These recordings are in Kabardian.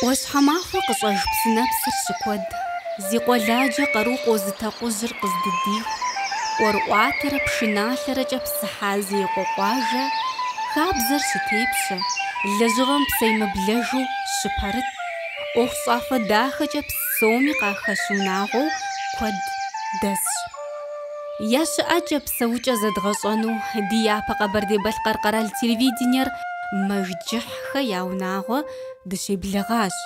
ӏуащхьэмахуэ къыщӏэж псынэпсыр щыкуэд, зи къуэладжэ къару къозыт акъужьыр къыздыдиху, ӏуэрыӏуатэрэ пшыналъэрэкӏэ псыхьа зеикъуэ къуажэ хабзэр щытепщэ, лэжьыгъэм псэемыблэжу щыпэрыт, ӏуэхущӏафэ дахэкӏэ псоми къахэщ унагъуэу куэд дэсщ. Я щыӏэкӏэ, псэукӏэ зэдгъэщӏэну ди япэ Къэбэрдей-Балъкъэр къэрал телевидениер мэжджыхьхэ я унагъуэ дыщеблэгъащ.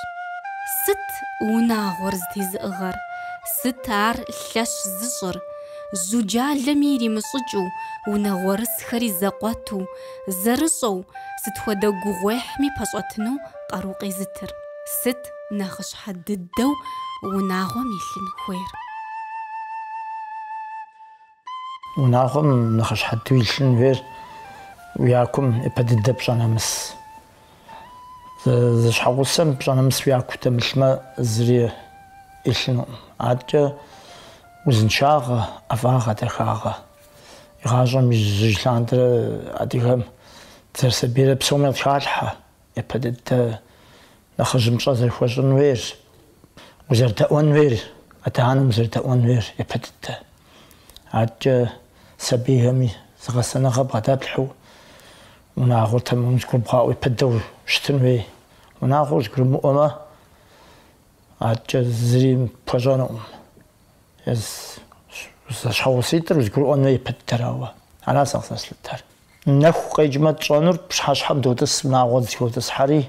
Сыт унагъуэр зэтезыӏыгъэр, сыт ар лъэщ зыщӏыр? Жьуджалэми иримыщӏыкӏыу, унагъуэрысхэри зэкъуэту, зэрыщӏэу, сыт хуэдэ гугъуехьми пэщӏэтыну къару къезытыр? Сыт? нэхъыщхьэ дыдэу унагъуэм илъын хуейр? Унагъуэм нэхъыщхьэ дыдэу илъын хуейр уи якум япэ дыдэ пщӏэ нэмыс. Зэщхьэгъусэм пщӏэ нэмыс уи яку дэмылъмэ, зыри илъынукъым. Адэкӏэ узыншагъэ, ӏэфӏагъэ, дахагъэ. Игъащӏэм ижьыж лъандэрэ адыгэм дызэрысабийрэ псоми къытхалъхьэ япэ дыдэ. Нэхъыжьым пщӏэ зэрыхуэщӏын хуейр, узэрыдэӏуэн хуейр, адэ-анэм узэрыдэӏуэн хуейр япэ дыдэ. Адэкӏэ сабийхэми зы гъэсэныгъэ бгъэдэплъхьэу унагъуэр тэмэму зыгурыбгъаӏуэ япэ дыдэу щытын хуей. Унагъуэр зыгурымыӏуэмэ, адэкӏэ зыри пхуэщӏэнукъым. Зэщхьэгъуситӏыр узыгурыӏуэн уей япэ дыдэрауэ, ара сэ къызэслъытэр. Нэху къекӏмэ тщӏэнур пщыхьэщхьэм дотӏыс, унагъуэ зыхотӏысхьэри,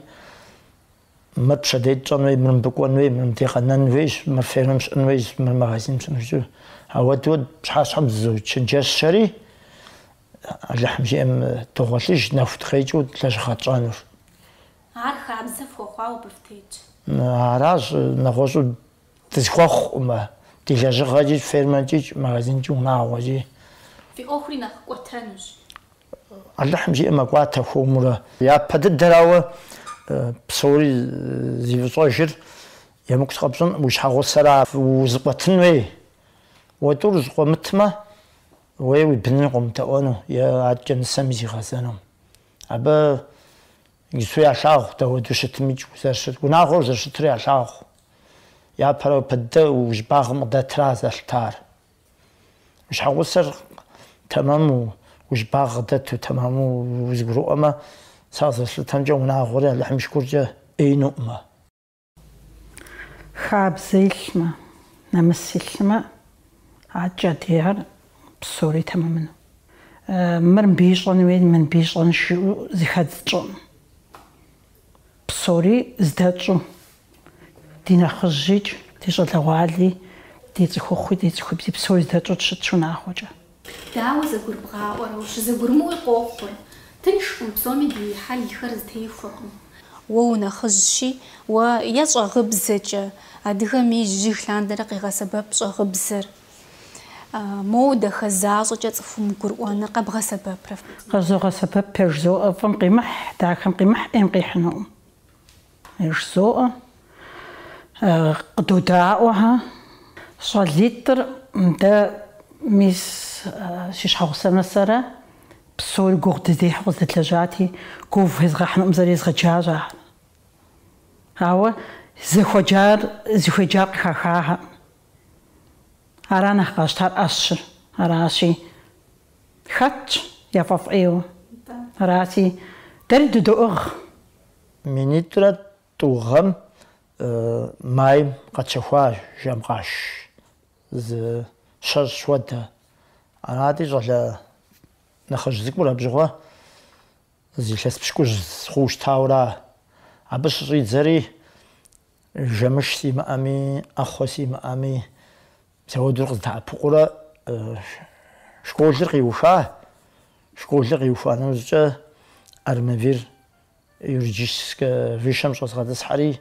мыр пщэдей тщӏэн уей, мыр мыбы кӏуэн уей, мыр мыбдей къэнэн уейщ, мыр фермэм щыӏэн уейщ, мыр магазиным щыӏэн уейщ. Ауэдуэ пщыхьэщхьэм дызочэнджэщри, Алыхьым жиӏэм догъуэлъыж нэху дыкъекӏыу лэжьыгъэ тщӏэнур. Ар хабзэ фхуэхъуауэ абы фытетщ. Аращ нэгъуэщӏу Дысхуэхъукъымэ, ди лэжьыгъэкӏи, фермэкӏи, магазинкӏи, унагъуэкӏи. Фи ӏуэхури нэхъ кӏуэтэнущ. Алыхьым жиӏэм мэкӏуатэ хуэмурэ. Япэ дыдэрауэ псори зи фӏыщӏэжыр емыкӏу сыкъэпщӏынкъым, уи щхьэгъусэра узыкъуэтын уей. Уэ тӏур зыкъуэмытмэ, е уи быныр къомыдэӏуэну е адэкӏэ нысэми зигъэзэну. Абы ису ялъагъу дауэду щытымикӏ узэрыщыт, унагъуэр зэрыщытыр ялъагъу. Япэрауэ япэ дыдэ уи щӏыбагъым къыдэтра зэлъытар. Уи щхьэгъусэр тэмэму, уи щӏыбагъ къыдэту тэмэму узэгурыӏуэмэ, сэ къызэслъытэмкӏэ унагъуэри Алыхьым и шыкуркӏэ ӏеинуӏымэ. Хабзэ илъмэ, нэмыс илъмэ, адэкӏэ адрейхэр псори тэмэмыну. Мыр мыбы ищӏэн хуей, мыр мыбы ищӏэнщ жыӏэу зэхэдз тщӏыӏым. Псори здэтщӏу, Ди нэхъыжьикӏ, ди щӏалэгъуали, ди цӏыхухъуи, ди цӏыхубзи псори здэтщӏу дыщытщ унагъуэкӏэ. Дауэ зэгурыбгъаӏуэрэ, ущызэгурымыӏуи къохъур. Тыншкъым, псоми ди хьэлхэр зэтехуэкъым. Уэ унэхъыжьщи, уэ е щӏэгъыбзэкӏэ, адыгэм ижьыж лъандэрэ къегъэсэбэп щӏэгъыбзэр. Моуэ дахэ защӏэкӏэ цӏыхум гурыӏуэныр къэбгъэсэбэпрэ? Къэзогъэсэбэп, пэж жызоӏэ, фӏым къимыхь, дахэм къимыхь, ӏейм къихьынукъым. Жысоӏэ, къыдодаӏуэхэ. Щӏалитӏыр, дэ, мис, си щхьэгъусэмэ сэрэ, псори гугъу дыздехьу къыздэдлэжьати, гугъу фезгъэхьынукъым жысӏэри езгъэджащ, ахэр. Ауэ зыхуэджар зыхуеджар къыхахахэкъым. Ара нэхъ къащтар ӏэщыр аращи, хэтщ яфӏэфӏ ӏейуэ. Арати, дэри дыдоӏыгъ. Минитӏрэ тӏу гъэм майм къэтщэхуа жэм къаш зы щэщӏ хуэдэ. Арати, щӏалэ нэхъыжь цӏыкӏур абы щыгъуэ зы илъэс пщыкӏущ хъуу щытауэра. Абы щыщӏидзэри, жэмыш симыӏэми, ӏэхъуэ симыӏэми, апхуэдэурэ къыздэӏэпыкъуурэ школыр къиуха. Школыр къиухуа нэужькӏэ Армавир Юридическэ высшэм щӏэзгъэтӏысхьэри,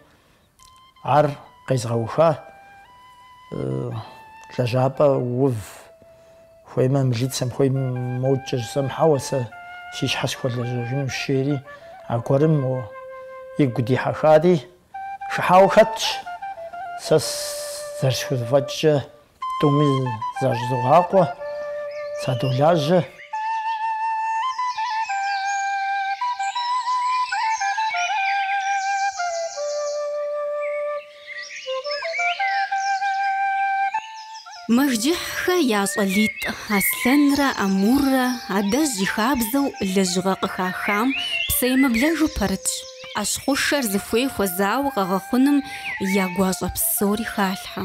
ар къезгъэуха. Лэжьапӏэ ув, хуеймэ, милицэм хуеймэ модэкӏэ жысӏэм, хьэуэ, сэ си щхьэ сыхуэлэжьэжынущ, жери, аргуэрым игу дихьэхари, хыхьауэ хэтщ, сэ зэрысхузэфӏэкӏкӏэ. Тӏуми защӏызогъакъуэ, садолажьэ. Мэжджыхьхэ я щӏалитӏ Аслъэнрэ Амуррэ адэжь и хабзэу лэжьыгъэ къыхахам псэемыблэжу пэрытщ. ӏэщхъушэр зыхуей хуэзауэ къэгъэхъуным я гуащӏэ псори халъхьэ.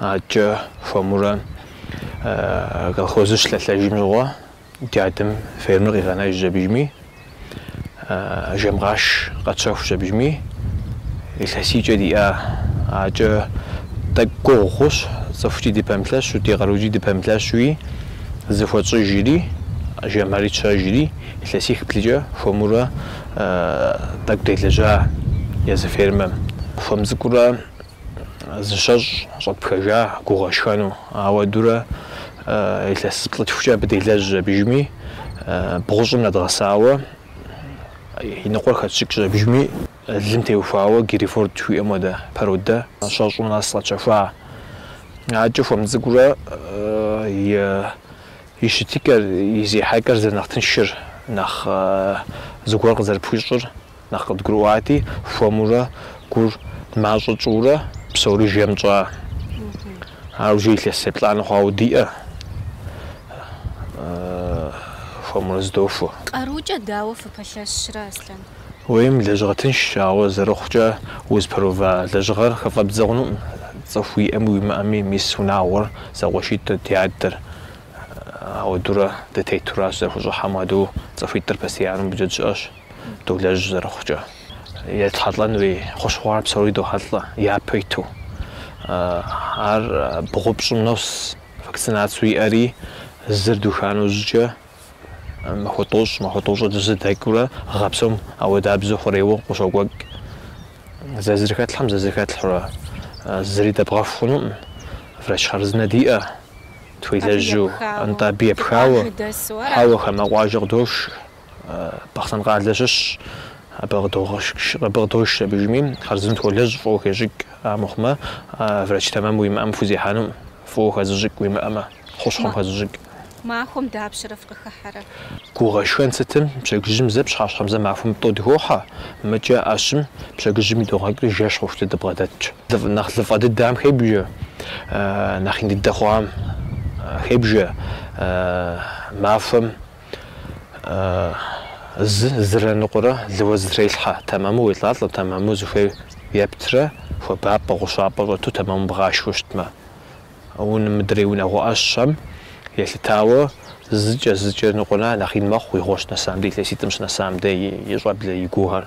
Адкӏэ хуэмурэ колхозыр щылъэлъэжым щыгъуэ ди адэм фермыр къигъэнэжщ абыжми, жэмкъаш къэтщэхущ абыжми, илъэсийкӏэ диӏа, адкӏэ тӏэкӏу гугъу хъущ, цӏыхукӏи дыпэмылъэщу, ди къарукӏи дыпэмылъэщуи, зэхуэтщӏыжри, жэмхэри тщэжри, илъэсих-блыкӏэ хуэмурэ тӏэкӏу делэжьа езы фермэм. Хуэм цӏыкӏурэ. зы щэщӏ щӏэтпхэжа гуу гъэшхэну, ауэдурэ илъэсиплӏ-тхукӏэ абы делэжьщ абыжми, бгъущӏым нэдгъэсауэ, и ныкъуэр хэтщыкӏщ абыжми, лым теухуауэ Герефорд жыхуиӏэм хуэдэ породэ щэщӏу нэс къэтщэхуа. Адкӏэ хуэм цӏыкӏурэ и щытыкӏэр, и зехьэкӏэр зэрынэхъ тыншыр, нэхъ зыгуэр къызэрыпхуищӏыр. Нэхъ къыдгурыӏуати, хуэмурэ гуур мащӏэ тщӏыурэ псори жэм тщӏа. Ар уже илъэс еплӏанэ хъуауэ диӏэу хуэмурэ зыдохуэ. Къарукӏэ дауэ фыпэлъэщрэ, Аслъэн? Уейм лэжьыгъэ тыншщ, ауэ зэрыхъукӏэ узыпэрыува лэжьыгъэр хыфӏэбдзэ хъунукъым. Цӏыху уиӏэми уимыӏэми мис унагъуэр зэкъуэшитӏыр ди адэр. Ауэдурэ дытетуращ, зэрыхущӏыхьэм хуэдэу цӏыхуитӏыр постояннэу мыбдеж дыщыӏэщ. долэжь зэрыхъукӏэ. Етхьэлӏэн хуей хущхъуэр псори дохьэлӏэ япэ иту. Ар бгъу-пщӏым нос, вакцинацэу иӏэри, зыр духа нэужькӏэ махуэ тӏощӏ, махуэ тӏощӏыр дызыдэкӏурэ гъэ псом ауэдабзэу хъурейуэ къыщокӏуэкӏ. Зэ зыр хэтлъхьэм, зэ зыр хэтлъхьэурэ зыри дэбгъэху хъунукъым, врач хъарзынэ диӏэ, тхуелэжьу, нтӏэ абы епхауэ. Хьэуэ, хамэ къуажэ къыдош, Бахъсэн къалэ щыщ, абы къыдош абыжми, хъарзынэу тхуолэжь фӏыуэ хещӏыкӏ, амыхъумэ, врач тэмэм уимыӏэм пхузехьэнукъым, фӏыуэ хэзыщӏыкӏ уимыӏэмэ, хущхъуэм хэзыщӏыкӏ. Махуэм дапщэрэ фыкъыхыхьэрэ? Гуу гъэшхэн сытым, пщэдджыжьым зэ, пщыхьэщхьэм зэ махуэм тӏэу дыхохьэ, мыдкӏэ ӏэщым, пщэдджыжьым идогъэкӏри жэщ хъуху дыбгъэдэтщ. Нэхъ лыфӏэ дыдэм хебжэ, нэхъ ин дыдэ хъуам хебжэ, махуэм зы зырэ ныкъуэрэ лыуэ зытрелъхьэ, тэмэму уелӏалӏэм, тэмэму зыхуей ептрэ, хуабапӏэ, гъущапӏэ щӏэту тэмэму бгъашхэу щытмэ. Унэ мыдрей унагъуэ ӏэщхэм елъытауэ зыкӏэ, зыкӏэ ныкъуэрэ нэхъ ин мэхъу игъуэ щынэсам де, илъэситӏым щынэсам де и щӏэблэ, и гуухэр.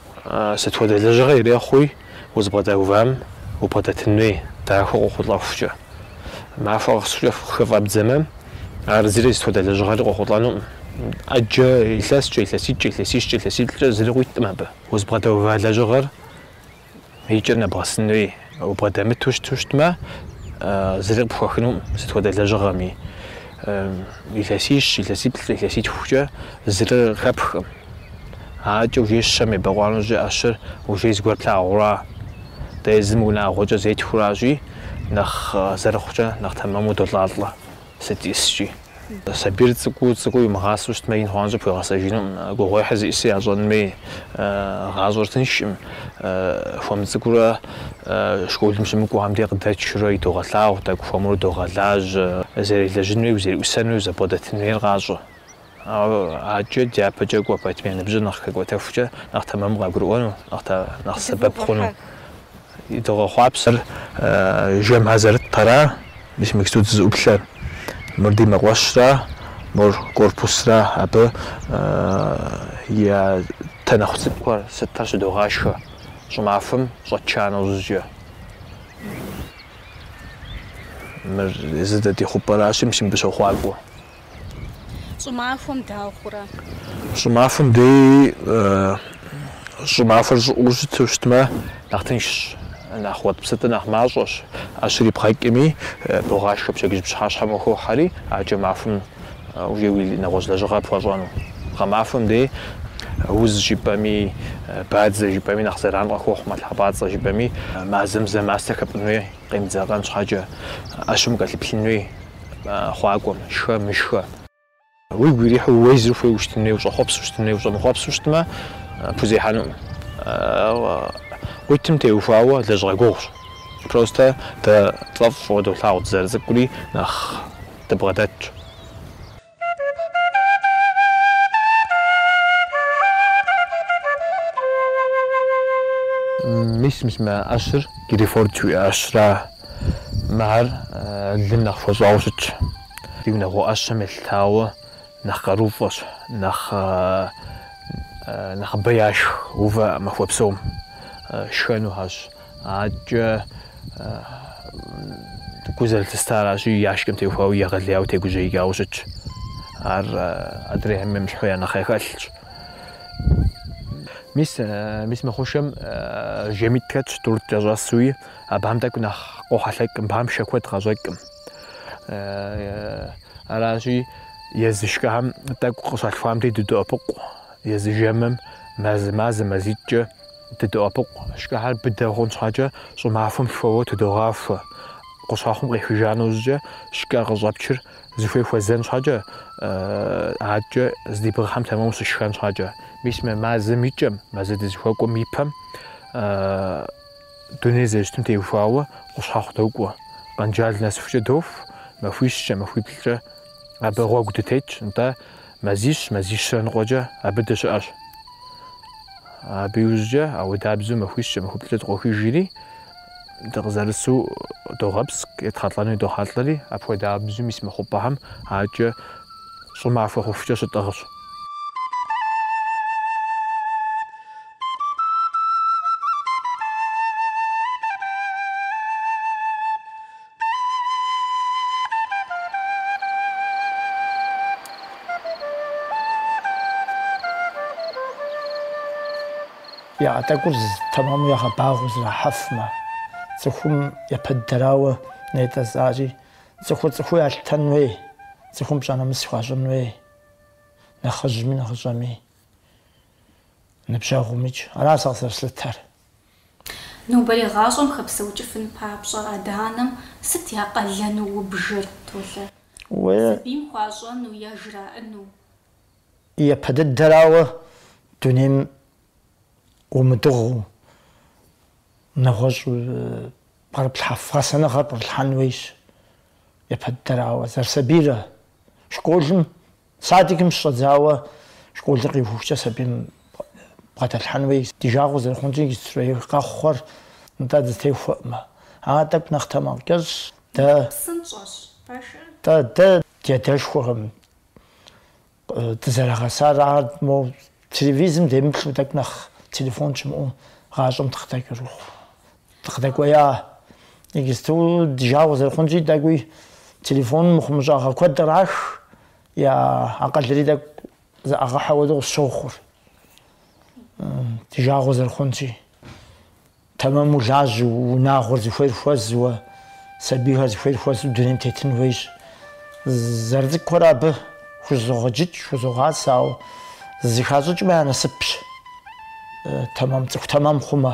Сыт хуэдэ лэжьыгъэ ирехъуи, узыбгъэдэувам убгъэдэтын хуей, дахэу къохъулӏэхукӏэ. Махуэ къэсыхукӏэ хыфӏэбдзэмэ, ар зыри сыт хуэдэ лэжьыгъэри къохъулӏэнукъым. ӏэджэ илъэскӏэ, илъэситӏкӏэ, илъэсищкӏэ, илъэсиплӏкӏэ зыри къуиткъым абы. Узыбгъэдэува лэжьыгъэр и кӏэр нэбгъэсын хуей, убгъэдэмыту щыту щытмэ, зыри къыпхуэхынукъым, сыт хуэдэ лэжьыгъэми. Илъэсищ, илъэсиплӏ, илъэситхукӏэ зыри къыхэпхкъым. Адэкӏэ уже щэм ебэкъуа нэужь ӏэщыр уже зыгуэр плъагъура? Дэ езым унагъуэкӏэ зетхуэращи, нэхъ зэрыхъукӏэ нэхъ тэмэму долӏалӏэ, сыт ищӏыскӏи. Сабийр цӏыкӏуу цӏыкӏуу имыгъасэу щытмэ, ин хъуа нэужькӏэ пхуэгъэсэжынукъым. Гугъуехьыр зищӏысыр ящӏэнми, гъащӏэр тыншкъым. Хуэм цӏыкӏуурэ школым щымыкӏуам дей къыдэтшурэ идогъэлъагъу, тӏэкӏу хуэмурэ догъэлажьэ. Зэрелэжьын хуей, узэреӏусэн хуей, узэрыбгъэдэтын хуейр къащӏэ. Ауэ адэкӏэ дяпэкӏэ кӏуэ пэтми, я ныбжьыр нэхъ хэкӏуэтэхукӏэ, нэхъ тэмэму къагурыӏуэну, нэхъ сэбэп хъуну. Идогъэхъуапсэр. Жэмхэр зэрытхэра, мис иджыпсту дызыӏуплъэр. Мыр ди мэкъуэщра, мор корпусра, абы я танэхъу цӏыкӏухэр сытхэр щыдогъашхэ щӏымахуэм щӏэтша нэужькӏэ. Мыр езы дэ ди хъупӏэращи, мис мыбы щохъуакӏуэ. Щӏымахуэм дауэ хъурэ? Щӏымахуэм дей щӏымахуэр щӏыӏэу щыту щытмэ, нэхъ тыншщ, нэхъ уэтӏпсытӏыр нэхъ мащӏэщ. ӏэщыр ибгъэкӏми, богъашхэ пщэдджыжь пщыхьэщхьэм ухохьэри, адэкӏэ махуэм уже уи нэгъуэщӏ лэжьыгъэр пхуэщӏэну. Гъэмахуэм дей уз жыпӏэми, бадзэ жыпӏэми нэхъ зэран къыхохъу, мэлхьэпӏацӏэ жыпӏэми мазэм зэ мастэ хэпӏун хуей къемыдзакъэн щхьэкӏэ, ӏэщым укӏэлъыплъын хуей. хъуакӏуэм, шхэ, мышхэ. Уигу ирихьу уэ езыр ухуейуэ щытын хуей, ущӏэхъуэпсу щытын хуей, ущӏэмыхъуэпсу щытмэ, пхузехьэнукъым. Къуитым теухуауэ лэжьыгъэ гугъущ. Просто дэ тфӏэфӏщ фӏыуэ долъагъу дызэрыцӏыкӏури нэхъ дыбгъэдэтщ. Мис мис мы ӏэщыр Герефорд жыхуиӏэ ӏэщра? Мыхэр лым нэхъ хуэщӏауэ щытщ. Ди унагъуэ ӏэщхэм елъытауэ нэхъ къарууфӏэщ, нэхъ нэхъыбэ яшх увэ махуэ псом шхэнухэщ. Адэкӏэ гу зылъыстаращи я шкӏэм теухуауи егъэлеяуэ тегужьеикӏауэ щытщ. Ар адрейхэм емыщхьу я нэхъ яхэлъщ. Мис мис мы хъушэм жэмитӏ хэтщ тӏурытӏ кӏэщӏэсуи, абам тӏэкӏу нэхъ къохьэлъэкӏ, мыбам шэ куэд къащӏэкӏкъым. Аращи, езы шкӏэхэм тӏэкӏу къыщалъхуам дей дыдоӏэпыкъу, езы жэмым мазэ-мазэ, мазитӏкӏэ. Дыдоӏэпыкъу, шкӏэхэр быдэ хъун щхьэкӏэ щӏымахуэм лъхуэуэ тыдогъахуэ. Къущхьэхъум къехыжа нэужькӏэ шкӏэ къыщӏэпчыр зыхуей хуэзэн щхьэкӏэ, адэкӏэ здебгъэхьым тэмэму щышхэн щхьэкӏэ. Мис мы мазэм и кӏэм, мазэ дызыхуэкӏуэм и пэм дунейр зэрыщытым теухуауэ къущхьэхъу докӏуэ, Къэнджал нэсыхукӏэ доху, махуищкӏэ, махуиплӏкӏэ абы гъуэгу дытетщ, нтӏэ, Мазищ, мазищрэ ныкъуэкӏэ абы дыщыӏэщ. Абы иужькӏэ ауэдабзэу махуищкӏэ, махуиплӏкӏэ дыкъохыжри, дыкъызэрысу догъэпскӏ, етхьэлӏэну идохьэлӏэри, апхуэдабзэу мис мы хъупӏэхэм адэкӏэ щӏымахуэ хъухукӏэ щытӏыгъщ. Яӏэ тӏэкӏур тэмэму ягъэбагъуэу зэрахьэфмэ, цӏыхум япэ дыдэрауэ нетӏэзари, цӏыхур цӏыхуу ялъытэн хуей, цӏыхум пщӏэ-нэмыс хуащӏын хуей, нэхъыжьми нэхъыщӏэми, ныбжьэгъумикӏ. Ара сэ къызэрыслъытэр. Нобэрей гъащӏэм хэпсэукӏыфын папщӏэ адэ-анэм сыт я къалэну убжыр, Толэ? Сабийм хуащӏэну е жраӏэну? Япэ дыдэрауэ дунейм умыдыгъуэу, нэгъуэщӏ пкърыплъхьэф гъэсэныгъэр пкърылъхьэн хуейщ. Япэ дыдэрауэ, зэрысабийрэ школым. Садикым щыщӏэдзауэ школыр къиухукӏэ сабийм бгъэдэлъхьэн хуей, ди жагъуэ зэрыхъунщи, иджыстурей къэхъухэр нтӏэ дызытехуэкъымэ. Ар тӏэкӏу нэхъ тэмакъкӏэщӏщ. Дэ. Нэхъ псынщӏэщ пэшыр. Тӏэ, дэ ди адэшхуэхэм дызэрагъэсар ар, мо телевизым демыплъу тӏэкӏу нэхъ телефон щымыӏэу гъащӏэм дыкъыдэкӏырыху. Дыкъыдэкӏуея, иджысту ди жагъуэ зэрыхъунщи, тӏэкӏуи телефоным мыхъумыщӏагъэ куэд кърах, я акъылри тӏэкӏу зэӏегъэхьэ хуэдэу къысщохъур. Ди жагъуэ зэрыхъунщи, тэмэму улажьэу, унагъуэр зыхуейр хуэзэу, сабийхэр зыхуейр хуэзу дунейм тетын хуейщ. Зэрыцӏыкӏурэ абы хузогъэджыкӏ, хузогъасэ, ауэ зыхащӏыкӏмэ я насыпщ, тэмэм, цӏыху тэмэм хъумэ.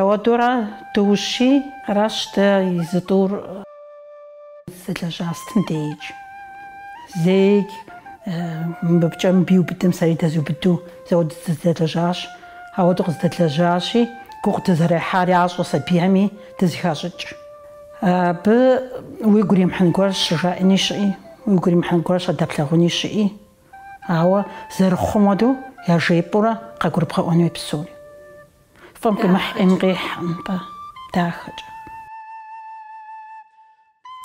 Ауэдурэ доущий, аращ дэ езы тӏур зэдэлэжьа сытым деикӏ. Зэи мыбыкӏэ мыбы иубыдым сэри дэзубыду ауэду дызэдэлэжьащ. Ауэду къыздэлэжьащи, гугъу дызэрехьар ящӏэ сабийми дызыхащӏыкӏ. Абы уигу иримыхьын гуэр щыжаӏэни щыӏи, уигу иримыхьын гуэр щадэплъагъуни щыӏи, ауэ зэрыхъум хуэдэу яжепӏэурэ къэгурыбгъэӏуэн хуей псори. Фӏым къимыхь ӏейм къихьэ нтӏэ дахэкӏэ.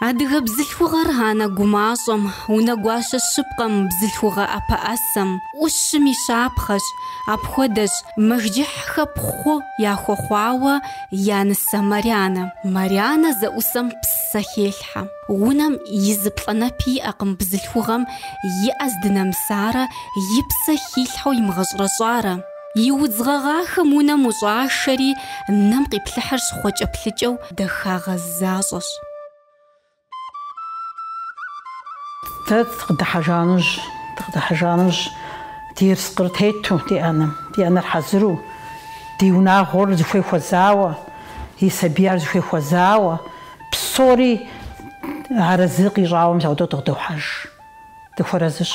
Адыгэ бзылъхугъэр анэ гумащӏэм, унэгуащэ щыпкъэм, бзылъхугъэ ӏэпэӏэсэм, ӏущым и щапхъэщ, апхуэдэщ Мэжджыхьхэ пхъу яхуэхъуауэ я нысэ Марянэ. Марянэ зэӏусэм псэ хелъхьэ. Унэм и зы плӏанэпи иӏэкъым бзылъхугъэм и ӏэ здынэмысарэ, и псэ хилъхьэу имыгъэщӏэрэщӏарэ. И удз гъэгъахэм унэм ущӏашэри, нэм къиплъыхьыр щхъуэкӏэплъыкӏэу дахагъэ защӏэщ. Дэ дыкъыдыхьэжа нэужь, дыкъыдыхьэжа нэужь ди ерыскъыр тету ди ӏэнэм, ди ӏэнэр хьэзыру, ди унагъуэр зыхуей хуэзауэ, и сабийхэр зыхуей хуэзауэ, псори арэзы къищӏауэ мис ауэдэу дыкъыдохьэж. Дыхуэрэзыщ.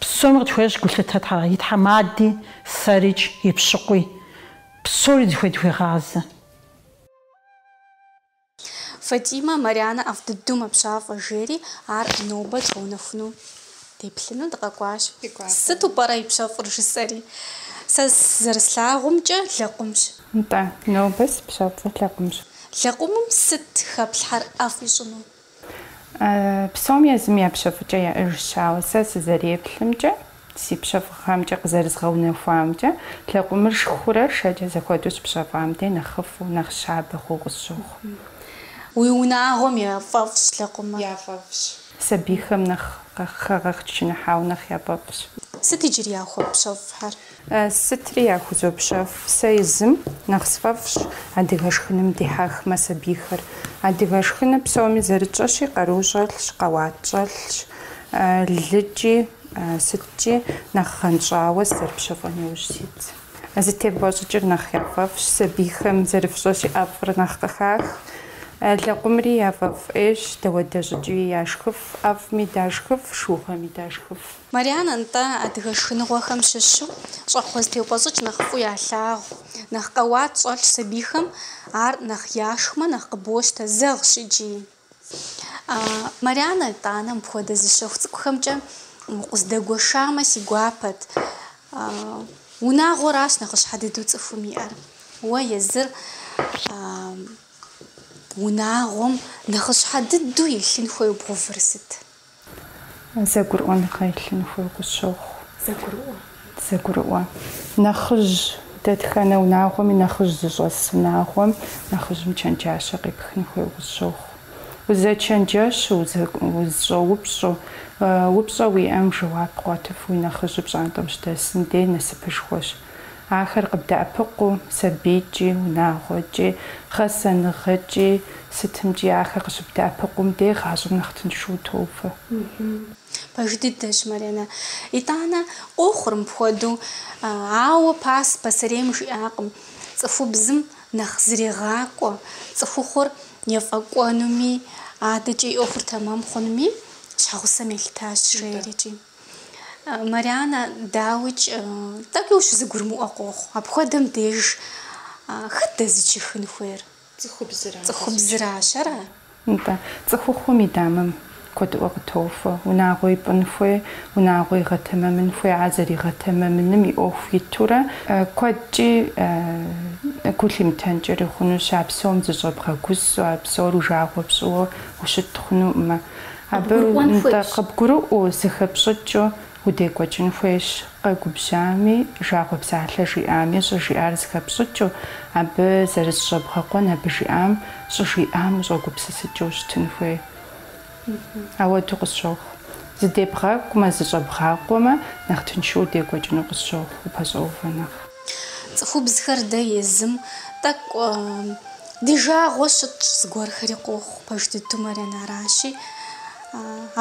Псоми къытхуещӏ гулъытэ тхьэ, и тхьэмади, сэрикӏ, и пщыкъуи. Псори зыхуей дыхуегъазэ. Фатимэ, Марянэ ӏэфӏ дыдэу мэпщафӏэ, жери, ар нобэ дгъэунэхуну деплъыну дыкъэкӏуащ. Сыту пӏэрэ ипщэфӏыр? жысӏэри. Сэ зэрыслъагъумкӏэ, лэкъумщ. Нтӏэ, нобэ сыпщэфӏыр лэкъумщ. Лэкъумым сыт хэплъхьэр ӏэфӏ ищӏыну? Псом езым я пщэфӏыкӏэ яӏэжщ, ауэ сэ сызэреплъымкӏэ, си пщэфӏыгъэмкӏэ, къызэрызгъэунэхуамкӏэ, лэкъумыр шхурэ шэкӏэ зэхуэдэу щыпщэфӏам дей нэхъыфӏу, нэхъ щабэ хъууэ къысщохъу. Уи унагъуэм яфӏэфӏщ лэкъумыр? Яфӏэфӏщ. Сабийхэм нэхъ хэгъэчыныхьауэ нэхъ яфӏэфӏщ. Сыт иджыри яхуэпщэфӏхэр? Сытри яхузопщэфӏ, сэ езым нэхъ сфӏэфӏщ адыгэ шхыным дихьэхмэ сабийхэр. Адыгэ шхыныр псоми зэрытщӏэщи, къару щӏэлъщ, къэуат щӏэлъщ, лыкӏи, сыткӏи нэхъ гъэнщӏауэ сызэрыпщэфӏэн иужь сит. Зытебгъуэщӏыкӏыр нэхъ яфӏэфӏщ, сабийхэм зэрыфщӏэщи ӏэфӏыр нэхъ къыхах. Лэкъумри яфӏэфӏ ӏейщ, дауэдэ щӏыкӏи яшхыф, ӏэфӏми дашхыф, шыугъэми дашхыф. Марянэ, нтӏэ, адыгэ шхыныгъуэхэм щыщу щӏэхъуэ зытеупӏэщӏыкӏ нэхъ фӏу ялъагъу. Нэхъ къэуат щӏэлъщ сабийхэм, ар нэхъ яшхмэ, нэхъ къыбощтэ, зэгъщ икӏи. А, Марянэ, итӏанэ, мыпхуэдэ зы щэху цӏыкӏухэмкӏэ укъыздэгуэшамэ, си гуапэт. А, унагъуэращ нэхъыщхьэ дыдэу цӏыхум иӏэр. Уэ езыр, а, унагъуэм нэхъыщхьэ дыдэу илъын хуейуэ бгъэувыр сыт? Зэгурыӏуэныгъэ илъын хуей къысщохъу. Зэгурыӏуэ. Зэгурыӏуэ. Нэхъыжь, дэтхэнэ унагъуэми нэхъыжь зыщӏэс унагъуэм нэхъыжьым чэнджащэ къепхын хуей къысщохъу. Узэчэнджэщу, узыщӏэупщӏу, упщӏэ уиӏэм жэуап къуэтыф уи нэхъыжьыр пщӏантӏэм щыдэсым дей насыпышхуэщ. Ахэр къыбдэӏэпыкъуу, сабийкӏи, унагъуэкӏи, гъэсэныгъэкӏи, сытымкӏи ахэр къыщыбдэӏэпыкъум де гъащӏэм нэхъ тыншу утоувэ. Пэж дыдэщ, Маринэ. Итӏанэ, къохъур мыпхуэдэу. Ауэ пас пасэрейм жиӏакъым, цӏыхубзым нэхъ зрегъакӏуэ, цӏыхухъур ефӏэкӏуэнуми, адэкӏэ и ӏуэхур тэмэм хъунуми щхьэгъусэм елъытащ, жери икӏи. Марианэ, дауикӏ, тӏэкӏуи ущызэгурымыӏуэ къохъу. Апхуэдэм деж хэт дэзычыхын хуейр? Цӏыхубзра. Цӏыхубзращ, ара? Нтӏэ, цӏыхухъум и дамэм куэдыӏуэ къытохуэ. Унагъуэ ипӏын хуей, унагъуэ игъэтэмэмын хуей, а зэригъэтэмэмыным и ӏуэху итурэ, куэдкӏи гу лъимытэнкӏэри хъунущ, а псом зыщӏэбгъэгусэу, а псор уи жагъуэ пщӏыуэ ущыт хъунукъымэ. Абы нтӏэ къыбгурыӏуэу, зыхэпщӏыкӏыу удекӏуэкӏын хуейщ, къэгубжьами, жагъуэ псалъэ жиӏами, щӏыжиӏар зыхэпщӏыкӏыу, абы зэрызыщӏэбгъэкъуэн, абы жиӏам, щӏыжиӏам ущӏэгупсысыкӏыу ущытын хуей. Ауэду къысщохъу. Зыдебгъэкӏумэ, зыщӏэбгъакъуэмэ, нэхъ тыншу удекӏуэкӏыну къысщохъу, упэщӏэувэ нэхъ. Цӏыхубзхэр дэ езым тӏэкӏу ди жагъуэ щытщӏ зыгуэрхэри къохъу, пэж дыдэу, Марианэ, аращи.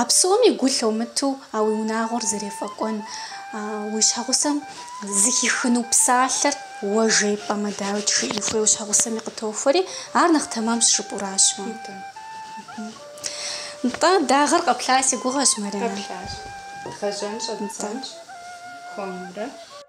А псоми гу лъумытэу а уи унагъуэр зэрефӏэкӏуэн, уи щхьэгъусэм зыхихыну псалъэр уэ жепӏэмэ, дауи тжыӏи хуей уи щхьэгъусэми къытохуэри, ар нэхъ тэмэмщ жыпӏуращ уэ. Нтӏэ, дагъэр къэплъа си гугъэщ, Марианэ. Къэплъащ. Дгъэжьэн щӏэддзэнщ хуэмурэ.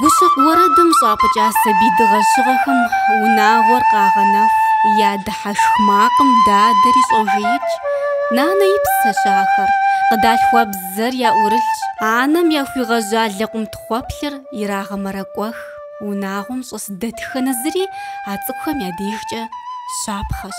Гущэкъу уэрэдым щӏапӏыкӏа сабий дыгъэщыгъэхэм унагъуэр къагъэнэху. Я дыхьэшх макъым дадэри щӏожеикӏ. Нанэ и псэщ ахэр. Къыдалъхуа бзэр яӏурылъщ. Анэм яхуигъэжьа лэкъум тхъуэплъыр ирагъэмэрэкӏуэх. Унагъуэм щӏэс дэтхэнэ зыри а цӏыкӏухэм я дежкӏэ щапхъэщ.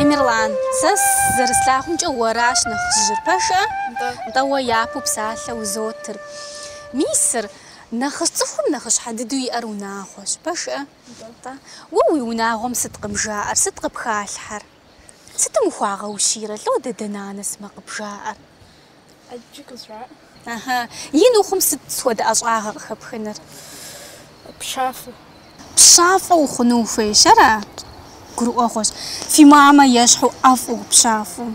Эмирлан, сэ зэрыслъагъумкӏэ уэращ нэхъыжьыр, пэжӏэ? Нтӏэ, уэ япэу псалъэ узотыр. Мисыр, нэхъыщ цӏыхум нэхъыщхьэ дыдэу иӏэр унагъуэщ, пэжӏэ? Нтӏэ, уэ уи унагъуэм сыт къыбжаӏэр, сыт къыпхалъхьэр? Сытым ухуагъэущийрэ, лӏо дадэ, нанэ сымэ къыбжаӏэр? Ӏэджи къызжаӏэ. Ага. Ин ухъум сыт хуэдэ ӏэщӏагъэ къыхэпхыныр? Пщафӏэ. Пщафӏэ ухъуну ухуейщ, ара? Гурыӏуэгъуэщ. Фи мамэ ещхьу ӏэфӏу, пщафӏэу.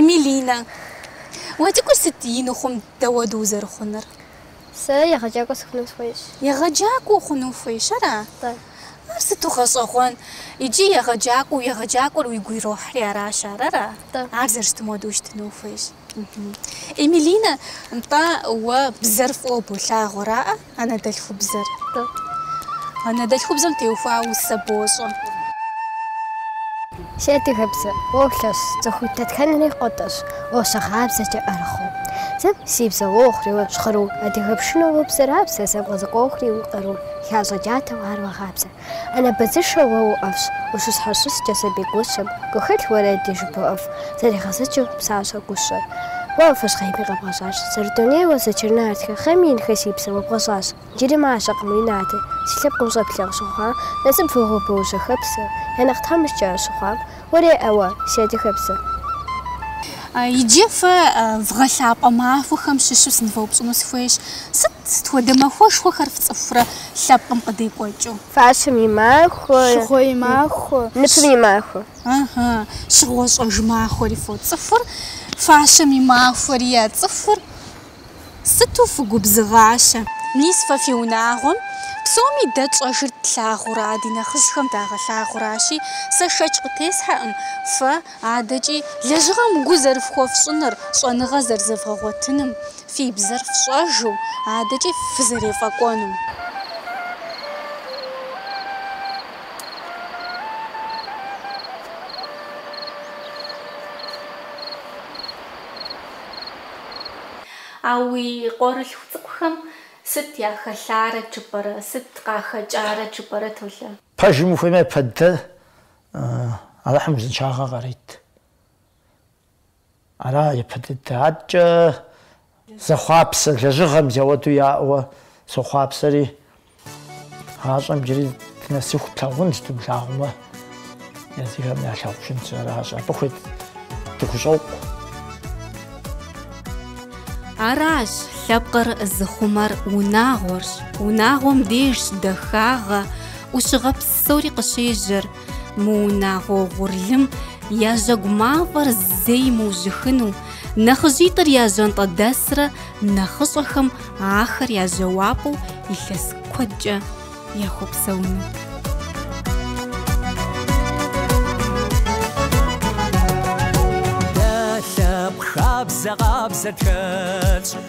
Милинэ. Уэ цӏыкӏур сыт ин ухъум дауэду узэрыхъуныр? Сэ егъэджакӏуэ сыхъуну сыхуейщ. Егъэджакӏуэ ухъуну ухуейщ, ара? Бэ. Ар сыту гъэщӏэгъуэн! Иджы егъэджакӏуэу, егъэджакӏуэр уигу ирохьри аращ ар, ара? Бэ. Ар зэрыщытым хуэдэу ущытыну ухуейщ. Мхм. Эмилинэ, нтӏэ, уэ бзэр фӏыуэ болъагъу, араӏэ, анэдэлъхубзэр? Бэ. Анэдэлъхубзэм теухуауэ усэ бощӏэ. Си адыгэбзэ, уолъэщ, цӏыху дэтхэнэри къотӏэщӏ, ущагъабзэкӏэ ӏэрыхуэу. Зэ си бзэ уохъури уэ щхъыру, адыгэ пшынэу уобзэрабзэ, зэ бгъэзыкӏуэхури уи къару, хащӏэ джатэу ар уагъабзэ. Анэ быдзышэу уэ уӏэфӏщ, ущыщхьэщыскӏэ сабий гущэм, гухэлъ уэрэди жыбоӏэф зэригъэзэкӏыу пщащэ гущэр. Уэ фэщхъейми къэбгъэщӏащ, зэрыдунейуэ зэчыр нартхэ, хъейми инхэ си бзэ уэ бгъэщӏащ. Иджыри мащӏэкъым уи натэ, си лъэпкъым щӏэплъэгъу щыхъуа, насып фӏыгъуэбэ ущэхэпсэ, я нэхъ тхьэмыщкӏэ щыхъуам, уэ уриӏэуэ, си адыгэпсэ. Иджы фэ вгъэлъапӏэ махуэхэм щыщу сынывэупщӏыну сыхуейщ, сыт, сыт хуэдэ махуэшхуэхэр фцӏыхурэ лъэпкъым къыдекӏуэкӏыу? Фащэм и махуэ. Щыгъуэ и махуэ. Ныпым и махуэ. Ыхьы, щыгъуэ щӏэж махуэри фоцӏыхур, фащэм и махуэри яцӏыхур. Сыту фыгубзыгъащэ! Мис фэ фи унагъуэм псоми дэ тщӏэжыр тлъагъура, ди нэхъыжьхэм дагъэлъагъуращи, сэ шэч къытесхьэкъым фэ адэкӏи лэжьыгъэм гу зэрыфхуэфщӏыныр, щӏэныгъэ зэрызэвгъэгъуэтыным, фи бзэр фщӏэжу адэкӏи фызэрефӏэкӏуэнум. А уи къуэрылъху цӏыкӏухэм сыт яхэлъарэт жыпӏэрэ, сыт къахэкӏарэт жыпӏэрэ, Толэ? Пэжым ухуеймэ япэ дыдэ, Алыхьым узыншагъэ къарит. Ара япэ дыдэ. Адэкӏэ зэхъуапсэ лэжьыгъэм зяуэду яӏэуэ сохъуапсэри. Гъащӏэм джыри дынэсыху плъагъунщ, дымылъагъумэ, езыхэм ялъагъужынщ, аращ. Абы хуит дыхущӏокъу. Аращ, лъэпкъыр зыхъумэр унагъуэрщ, унагъуэм дежщ дахагъэ, ӏущыгъэ псори къыщежьэр, Мы унагъуэ угъурлым я жьэгу мафӏэр зэи мыужьыхыну, нэхъыжьитӏыр я жьантӏэдэсрэ нэхъыщӏэхэм ахэр я жьауапӏэу илъэс куэдкӏэ яхуэпсэуну. Лъэпкъ хабзэ къабзэ тхэлъщ.